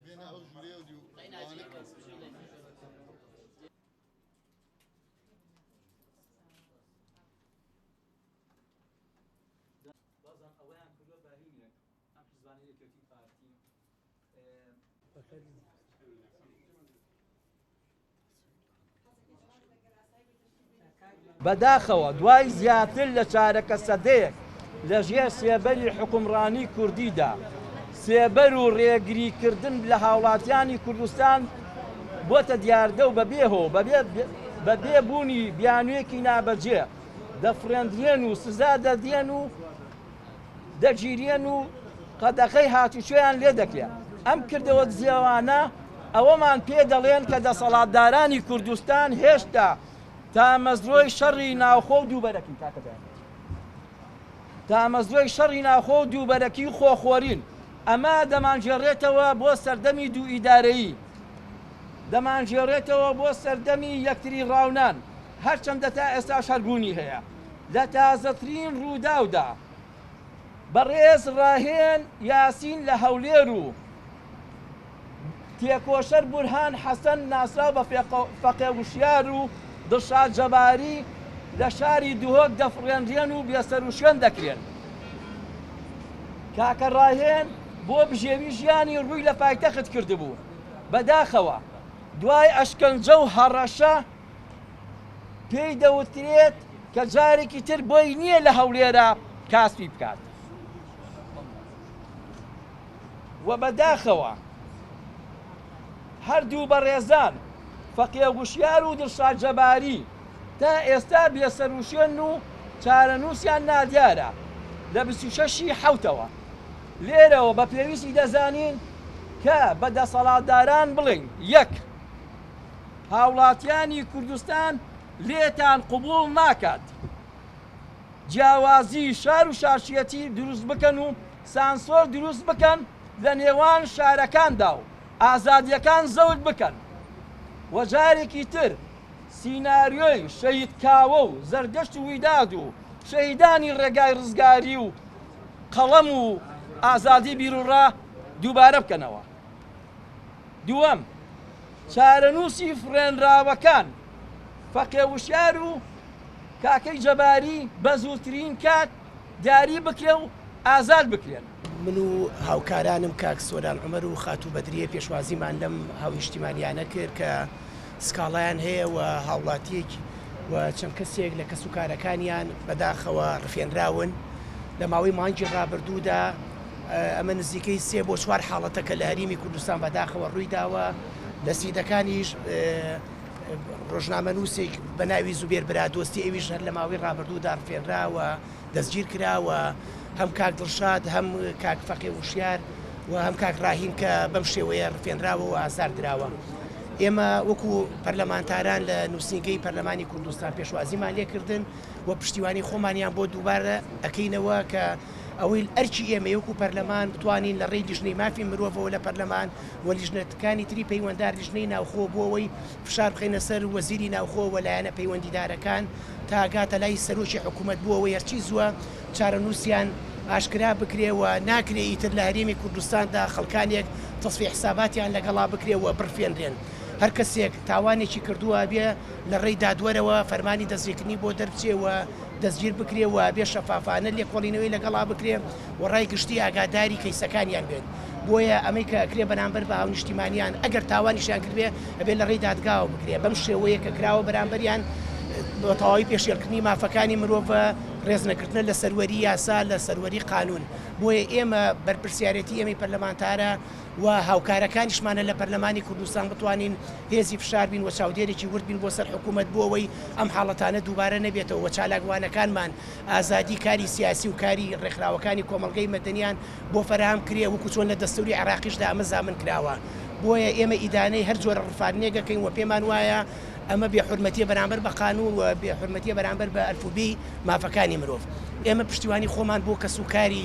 بێنە ئەو ژورەیە و دیو وانە کە. بازان ئەوەیان کردوە بە هینێک ئەم حیزبانە یەکێتی پارتی. بەداخەوە دوای زیاتر لە چارەکە سەدەیەک لە ژێر سێبەری حکومڕانی کوردیدا سێبەر و ڕێگری کردن لە هاوڵاتیانی کوردستان بۆتە دیاردە و بەبێهۆ بەبێ بوونی بیانوێکی نابەجێ دەفڕێندرێن و سزا دەدرێن و دەگیریێن و قەدەخەی هاتوچۆیان لێ دەکرێ. ئەم کردەوە دزێوانە ئەوەمان پێ دەڵێن کە دەسەڵاتدارانی کوردستان هێشتا تامەزرۆی شەڕی ناوخۆ و دووبەرەکی تامەزرۆی شەڕی ناوخۆ و دووبەرەکی و خۆخۆرین. ئەمە دەمانگێڕێتەوە بۆ سەردەمی دوو ئیدارەیی. دەمانگێڕێتەوە بۆ سەردەمی یەکتری ڕاونان. هەرچەندە تا ئێستاش هەر بوونی هەیە. لە تازەترین رووداودا، بەڕێز راهێن یاسین لە هەولێر و تێکۆشەر بورهان حەسەن ناسراو بە فەقێ وشیار و دڵشاد جەباری لە شاری دهۆک دەفڕێنرێن و بێسەروشوێن دەکرێن. کاکە راهێن بۆ بژێوی ژیانی رووی لە پایتەخت کردبوو، بەداخەوە دوای ئەشکەنجە و هەڕەشە پێی دەوترێت کە جارێکی تر بۆی نییە لە هەولێرە کاسپی بکات و بەداخەوە هەردوو بەڕێزان فەقێ گوشیار و دڵشاد جەباری تا ئێستا بێسەروشێن و چارەنووسیان نادیارە لە 26ی حوتەوە لێرەوە بە پێویستی دەزانین کە بە دەسەڵاتداران بڵین یەک هاوڵاتیانی کوردستان لێتان قبوڵ ناکات جیاوازی شار و شارچیەتی دروست بکەن و سانسۆر دروست بکەن لە نێوان شارەکاندا و ئازادیەکان زەوت بکەن و جارێکی تر سیناریۆی شەید کاوە و زەردەشت و ویداد و شەیدانی ڕێگای ڕزگاری و قەڵەم و ئازادی بیرڕا دووبارە بکەنەوە دووەم، چارەنووسی فڕێنراوەکان، فەقێ وشیار و کاکەی جەباری بە زووترین کات دیاری بکرێ و ئازاد بکرێن. من و هاوکارانم کاک سۆران عومەر و خاتوو بەدریە پێشوازیمان لەم هاونیشتیمانیانە کرد کە سکاڵایان هەیە و هاوڵاتیەک و چەند کەسێک لە کەسوکارەکانیان بەداخەوە ڕفێنراون لە ماوەی مانگی ڕابردوودا. ئەمە نزیکەی سێ بۆ چوار حاڵەتە کە لە هەریمی کوردستان بەداخەوە ڕوویداوە لە سیدەکانیش ڕۆژنامەنووسێک بە ناوی زوبێر برادۆستی ئەویش هەر لە ماوەی ڕابردوو داڕفێنراوە دەستگیر کراوە هەم کاک دڵشاد هەم کاک فەقێ وشیار و هەم کاک ڕاهیم کە بەم شێوەیە ڕفێنراوە و ئازار دراوە ئێمە وەکو پەرلەمانتاران لە نووسنگەی پەرلەمانی کوردستان پێشوازیمان لێکردن و پشتیوانی خۆمانیان بۆ دووبارە ئەەکەینەوە کە ئەوەیل ئەرکی ئێمەیە وەکوو پەرلەمان بتوانین لە ڕێی لیژنەی مافی مرۆڤەوە لە پەرلەمان و لیژنەکانی تری پەیوەندار لیژنەی ناوخۆ بۆ ئەوەی فشار بخەینە سەر وەزیری ناوخۆ و لایەنە پەیوەندیدارەکان تا گاتە لای سەرۆکی حکوومەت بۆ ئەوەی هەرچی زووە چارەنووسیان ئاشکرا بکرێ و ناکرێ ئیتر لە هەرێمی کوردستاندا خەڵکانێک تەسفیە حیساباتیان لەگەڵا بکرێ و بڕفێنرێن هەر کەسێک تاوانێکی کردووە ئەبێ لە ڕێی دادوەرەوە فەرمانی دەستگیرکردنی بۆ دەربچێ و دەستگیر بکرێ و بێ شەفافانە لێکۆڵینەوەی لەگەڵا بکرێ و ڕای گشتی ئاگاداری کەیسەکانیان بێت بۆیە ئەمەی کە ئەکرێ بەرامبەر بە هاونیشتیمانیان ئەگەر تاوانیشیان کردێ ئەبێ لە ڕێی دادگاوە بکرێ بەم شێوەیە کە کراوە بەرامبەریان بە تەواوی پێشێلکردنی مافەکانی مرۆڤە ڕێزنەگرتنە لە سەروەری یاسا لە سەروەری قانون بۆیە ئێمە بەرپرسیارەتی ئێمەی پەرلەمانتارە و هاوکارەکانیشمانە لە پەرلەمانی کوردستان بتوانین هێزی فشار بین و چاودێرێکی ورد بین بۆ سەر حکوومەت بۆ ئەوەی ئەم حاڵەتانە دووبارە نەبێتەوە و چالاکوانەکانمان ئازادی کاری سیاسی و کاری ڕێکخراوەکانی کۆمەڵگەی مەدەنیان بۆ فەراهەم کرێ وەکوو چۆن لە دەستووری عێراقیشدا ئەمە زامن کراوە بۆیە ئێمە ئیدانەی هەر جۆرە ڕفاندنێک ئەکەین و پێمان وایە ئەمە بێ حورمەتیە بەرامبەر بە قانوون و بێ حورمەتیە بەرامبەر بە ئەلفوبێی مافەکانی مرۆڤ ئێمە پشتیوانی خۆمان بۆ کەس و کاری